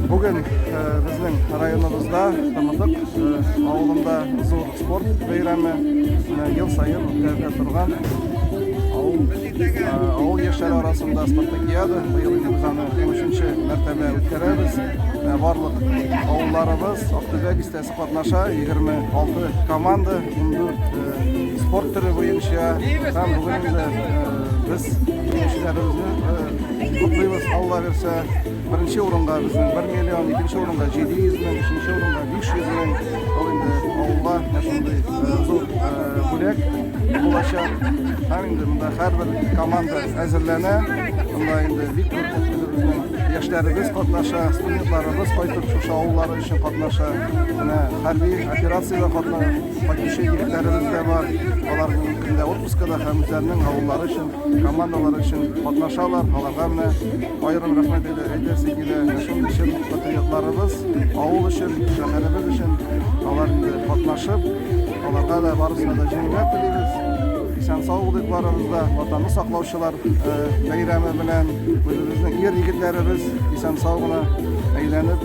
Бүген э, безнең районыбызда Тамадык э, авылында зур спорт бәйрәме э, ел сайын үткәрелә торган авыл яшьләре арасында спартакиада быел инде без аны 13 мәртәбә үткәрәбез барлык авылларыбыз Актүбә бистәсе Катнаша 26 команда, 14 спорт төре буенча. Һәм бүген инде без җиңүчеләребезне котлыйбыз. Алла бирсә, беренче урынга безнең 1 миллион, икенче урынга 700 мең, өченче урынга 500 мең. Ул инде авылга шундый зур бүләк булачак. Һәм инде монда һәрбер команда әзерләнә. Монда инде бик күп яшьләребез катнаша, студентларыбыз кайтып шушы авыллар Кеше катнаша, менә хәрби операциядә катнашучы егетләребез дә бар. Алар бүгенге көндә отпускада һәм үзләренең авыллары өчен, командалары өчен катнашалар. Аларга менә аерым рәхмәт әйтәсе килә. Шуның өчен патриотларыбыз авыл өчен, шәһәребез өчен алар инде катнашып, аларга да барысына да җиңүләр телибез. Исән сау булыйк барыбыз да. Ватанны саклаучылар бәйрәме белән үзебезнең ир-егетләребез исән сау гына әйләнеп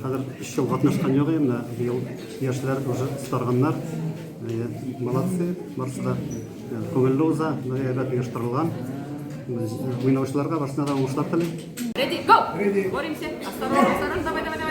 Хәзер эш ел катнашкан юк инде. Быел яшьләр уже старганнар. Молодцы, барысы да күңелле уза, әйбәт оештырылган. Уйнаучыларга барысына да уңышлар телим. Ready, go! Боремся. Осторожно, осторожно, давай, давай, давай.